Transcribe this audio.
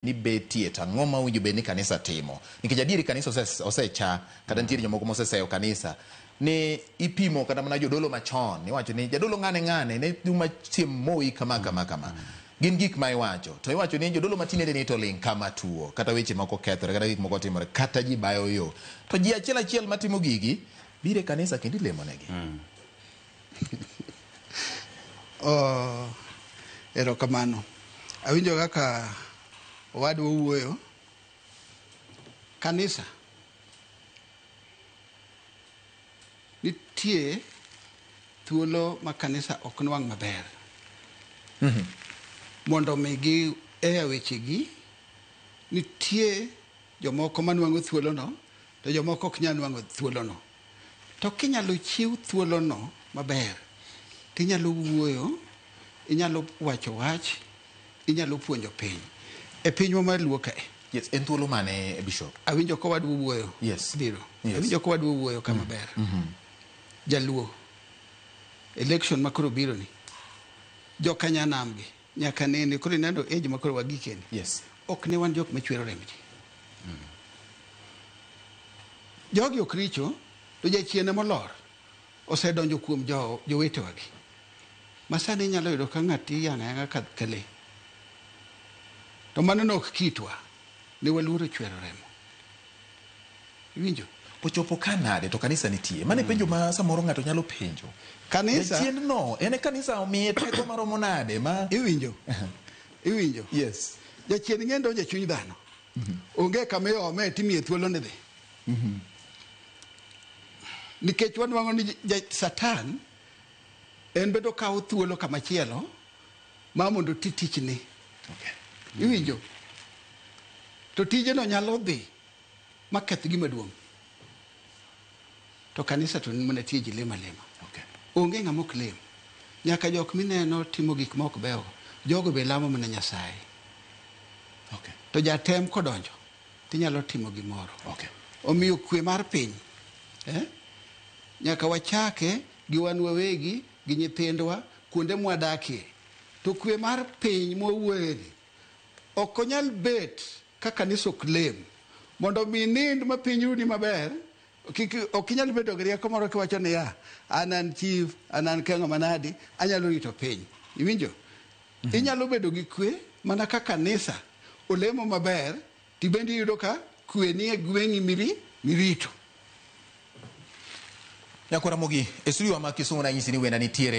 ni betie to ang'o ma owinjo bed ni kanisa timo nikech adieri kanisa ose- osecha kata nitiere jomoko moseseyo kanisa ni ipimo kata mana jodolo machon iwacho ni jadolo ng'ane ng'ane ne juma chiem moyi kama kama kama gin gik ma iwacho to iwacho ni jodolo matinende ni to ling' kama tuo kata weche moko kethore kata gik moko timore kata ji bayo yo to ji achiel achiel matimo gigi bire kanisa kendo ilemonegi Oh, erokamano. Awinjo kaka owadwa owuoyo. Kanisa nitie thuolo ma kanisa ok nwang' maber mondo mi gi eya wechegi nitie jomoko manwang'o thuolono to jomoko ok nyal nwang'o thuolono. To kinyalo chiew thuolono maber to inyalo wuoyo, inyalo wacho wach, inyalo puonjo piny. E pinywa mar luo kae. Yes, en thuolo mane Bishop? Awinjo ka wadwa wuoyo. Yes. Biro. Yes. Awinjo ka wadwa wuoyo kama mm. ber. Mm -hmm. Jaluo. Election makoro biro ni. Joka nyanamgi. Nyaka nene koro ineno age ma koro wagikeni. Yes. Ok ne wan jok machwero remb ji. Jogi ok richo to jachien ema olor osedonjo kuom jo jowetewagi. Ma sani inyalo yudo ka ng'ato iyang'o ayang'a ka ka le. To mano ne ok kitwa. Ne waluoro chwero remo. Iwinjo? Ochopo ka nade to kanisa nitie? Mane mm. penjo ma samoro ng'ato nyalo penjo. Kanisa chiendno en kanisa omiye teko maromo nade ma iwinjo? iwinjo? Yes. Jachien ng'e donjo e chuny dhano. Mm -hmm. Onge kama iome timie thuolo ni dhi. Mm -hmm. Nikech wanwang'o ni Satan en bedo kawo thuolo kama chielo ma mondo oti tichni. Iwinjo? To tijeno nyalo dhi ma keth gima duong'. To kanisa to mana tie ji lima lima. Onge ng'ama ok lem. Nyaka jok mineno timo gik ma ok beyogo, jogo be lamo mana Nyasaye. To jatem kodonjo, tinyalo timo gimoro. Omiyo kwe mar piny, eh, nyaka wachake gi wan wawegi gi nyithindwa kuonde mwadakie. To kwe mar piny mwawuoyeni ok onyal bet ka kanisa ok lem. Mondo mi inind ma piny runi maber, kik ok inyal bedo gi rieko moro kiwacho niya, an an chief, an an kengo manadi, anyalo rito piny. Iwinjo? Inyalo bedo gi kwe mana ka kanisa olemo maber. Tibende iyudo ka kwe nie gweng'i mirito. Nyako Ramogi, e studio wa ma Kisumu nanyisi ni wenda nitiere